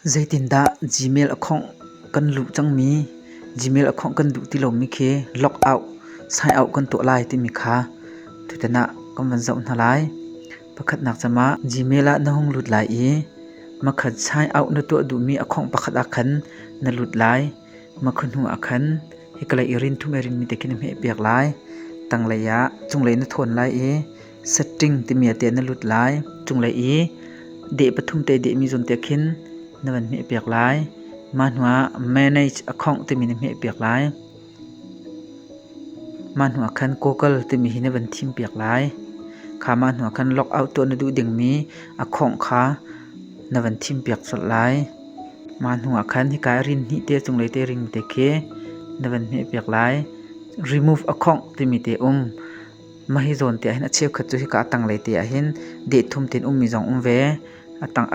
Zeitindah Gmail account kan luh cangmi, Gmail account kan duh ti lomi khi lockout, sign-out kan tuah lai timi kha tutan ah kan van zoh hna lai. Pakhatnak cem ah Gmail ah na hung lut lai i makhat sign-out na tuah duhmi account pakhat ah khan na lut lai. Makhat hnu ah khan hikalei i rin thum i rinmi te khi na hmehpiak lai. Tanglei ah cunglei na thawn lai i setting timi ah teh na lut lai. Cunglei i deh pathum te dehmi zawn teh khin na van hmeh piak lai. Mah hnuah manage a khongh timi na hmeh piak lai. Mah hnuah khan goggle timi hi na van thim piak lai. Kha mah hnuah khan logout tuah na duh dingmi a khongh kha na van thim piak colh lai. Mah hnuah khan hika rin hnih te cunglei te ring te khi na van hmeh piak lai. Remove a khongh timi te um. Mah hi zawn te ah hin a cheukhat cu hika a tanglei te ah hin deh thum tein ummi zong um ve.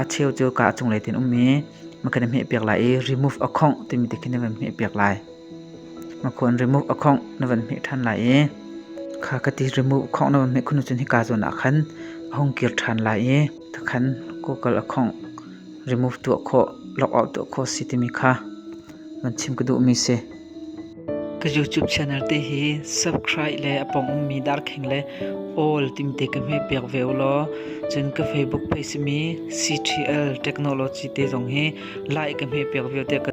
A cheu cu kaa a cunglei tein um i ma kan i hmeh piak lai i remove a khawngh timi te khi na van hmeh piak lai. Ma khua in remove a khawngh na van hmeh ṭhan lai i kha ka ti remove a khawngh na van hmeh khun ahcun hika zawn ah khan a hung kir ṭhan lai i takhan kawkal a khawngh remove tuah khawh, lock out tuah khawh a si timi kha van chim ka duhmi a si. Ka YouTube channel te hi subscribe le a pong ummi darkheng le all timte ka hme pek ve u law cun ka Facebook page simi CTL Technology te zong hi like ka hme pek ve te ka